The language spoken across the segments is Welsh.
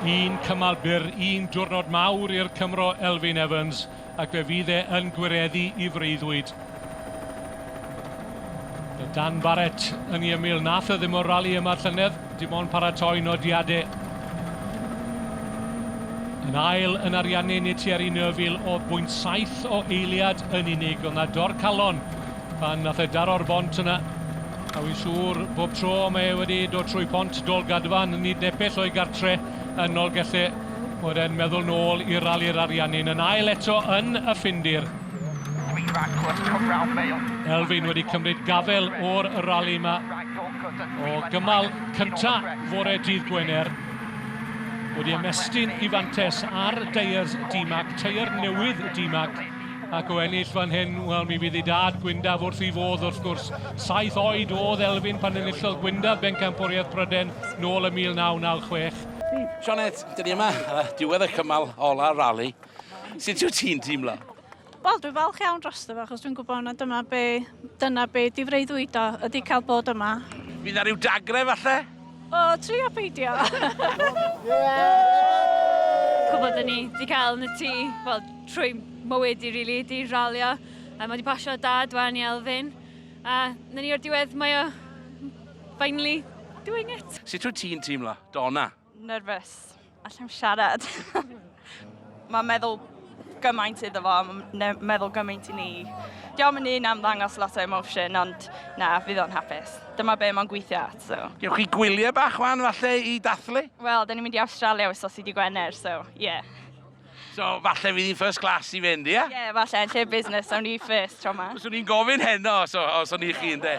Un cymal byr, un diwrnod mawr i'r Cymro Elfyn Evans ac fe fydd e yn gwireddu i freuddwyd. Mae Dan Barrett yn ei ymyl, nath e ddim o'r rali yma llynedd, dim ond paratoi nodiadau. Yn ail yn Ariannin i Thierry Neuville oedd bwynt saith o eiliad yn unig, ond na dorcalon Pan nath e daro'r bont yna, a wi'n siŵr bob tro mae e wedi dod trwy Pont Dolgadfan, nid nepell o'i gartre yn Nolgelle, bod e'n meddwl nôl i Rali'r Ariannin yn ail eto yn y Ffindir. Elfyn wedi cymryd gafel o'r rali yma o gymal cynta fore dydd Gwener. Wedi ymestyn i fantes ar deiers DMAC, teier newydd DMAC. ac o ennill fan hyn, wel mi fydd ei dad Gwyndaf wrth ei fodd wrth gwrs. Saith oed oedd Elfyn pan enillodd Gwyndaf bencampwriaeth Pryden nôl y 1996. Sioned, dyn ni yma, diwedd y cymal ola rali. Sut yw ti'n teimlo? Wel, dwi'n falch iawn dros fo, achos dwi'n gwybod na dyma be, dyna be di freuddwydo, ydy cael bod yma. Fydd na rhyw dagrau falle? O, trio peidio! Cwbl dyn ni wedi cael yn y tŷ, wel, trwy mywyd i rili, di ralio. A mae wedi pasio dad wan i Elfyn. A na ni o'r diwedd, mae o finally doing it. Sut wyt ti'n teimlo, Donna? Nerfus. Allai'm siarad. Mae'n meddwl gymaint iddo fo, mae'n meddwl gymaint i ni. Diolch yn un am ddangos lot o emotion, ond na, fydd o'n hapus. Dyma be mae'n gweithio at, so. Gewch chi gwyliau bach wan, falle, i dathlu? Wel, da ni'n mynd i Awstralia wythnos i di Gwener, so, ie. Yeah. So, falle fydd hi'n first class i fynd, ie? Ie, falle, yn lle business, awn ni first tro ma. Os o'n i'n gofyn heno, os, os o'n i chi, ynde?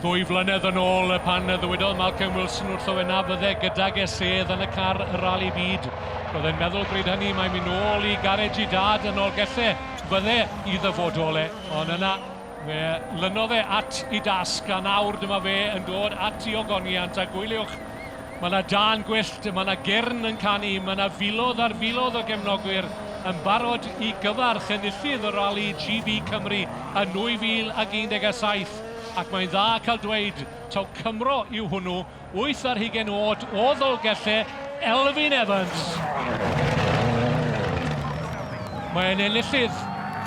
Ddwy flynedd yn ôl, pan ddywedodd Malcolm Wilson wrtho fe na fydde gydag e sedd yn y car y Rali Byd, roedd e'n meddwl bryd hynny mae'n mynd nôl i garej i dad yn Nolgellau, fydde i ddyfodol e, ond yna, Fe lynodd e at i dasg a nawr dyma fe yn dod at i ogoniant a gwyliwch, mae na dân gwyllt, mae na gyrn yn canu, mae na filodd ar filodd o gefnogwyr yn barod i gyfarch enillydd y rali GB Cymru yn 2017 ac mae'n dda cael dweud taw Cymro yw hwnnw Wyth ar hugain oed o Ddolgellau, Elfyn Evans. Mae'n enillydd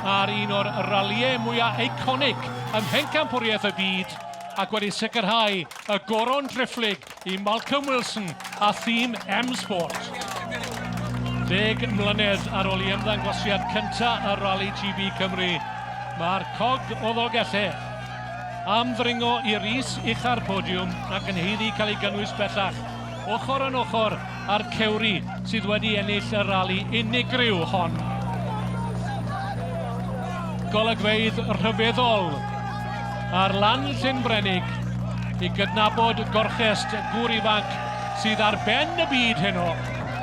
ar un o'r ralïau mwyaf eiconig ym Mhencampwriaeth y Byd ac wedi sicrhau y goron driphlyg i Malcolm Wilson a thîm M-Sport. Deg mlynedd ar ôl i ymddangosiad cyntaf ar Rali GB Cymru, mae'r cog o Ddolgellau am ddringo i'r is ucha'r podiwm ac yn haeddu cael ei gynnwys bellach ochr yn ochr â'r Cewri sydd wedi ennill y rali unigryw hon. Golygfeydd rhyfeddol ar lan Llyn Brenig i gydnabod gorchest gŵr ifanc sydd ar ben y byd heno,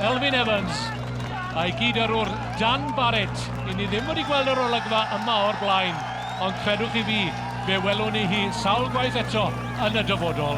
Elfyn Evans, a'i gyd-yrrwr Dan Barrett, i ni ddim wedi gweld yr olygfa yma o'r blaen. Ond credwch chi fi, fe welwn ni hi sawl gwaith eto yn y dyfodol.